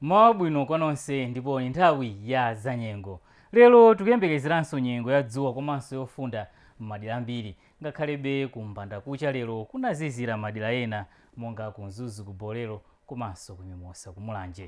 mmawa wabwino kwa nonse ndipo ndi nthawi ya zanyengo lero tikuyembekezeranso nyengo ya dzuwa komanso yofunda m'madera ambiri ngakhalebe ku mbandakucha lero kunazizira madera ena monga ku mzuzu ku bolero komanso ku mimosa ku mulanje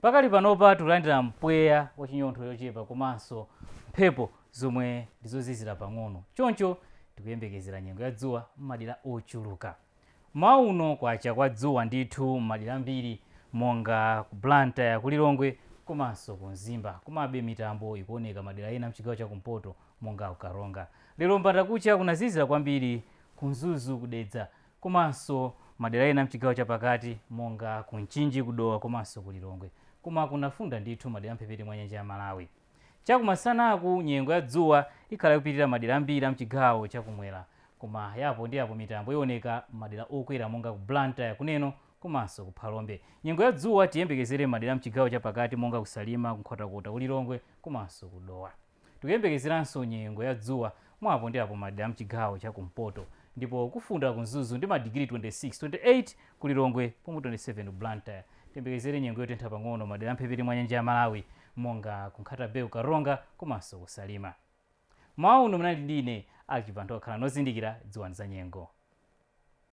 Pakali panopa tikulandira mpweya wachinyontho chochepa komanso mphepo zomwe ndi zozizira pang'ono choncho tikuyembekezera nyengo ya dzuwa m'madera ochuluka. Mmawa uno kwacha kwa dzuwa ndithu m'madera ambiri monga ku Blantyre, ku Lilongwe komanso ku Mzimba komabe mitambo ikuoneka madera ena m'chigawo cha kumpoto monga ku Karonga. Lero m'bandakucha kunazizira kwambiri ku Mzuzu, ku Dedza komanso madera ena mchigawo chapakati monga ku Mchinji ku Dowa komanso ku Lilongwe koma kunafunda ndithu madera amphepete mwa nyanja ya Malawi. Chakumasanaku nyengo ya dzuwa ikhala ikupitirira madera ambiri amchigawo chakumwera koma ya apo ndi apo mitambo iwoneka m'madera okwera monga ku Blantyre, ku Neno komanso ku Phalombe. Nyengo ya dzuwa tiyembekezere m'madera amchigawo chapakati monga ku Salima, ku Nkhotakota, ku Lilongwe komanso ku Dowa. Tikuyembekezeranso nyengo ya dzuwa mwa apo ndi apo m'madera a m'chigawo cha kumpoto ndipo kufunda ku Mzuzu ndi madigiri 26, 28 ku Lilongwe pomwe 27 ku Blantyre. Tiyembekezere nyengo yotentha pang'ono m'madera a mphepete mwa nyanja ya Malawi monga ku Nkhata-Bay, ku Karonga komanso ku Salima. M'mawa uno munali ndi ine Alick Chibanthowa. Khalani ozindikira, dziwani zanyengo.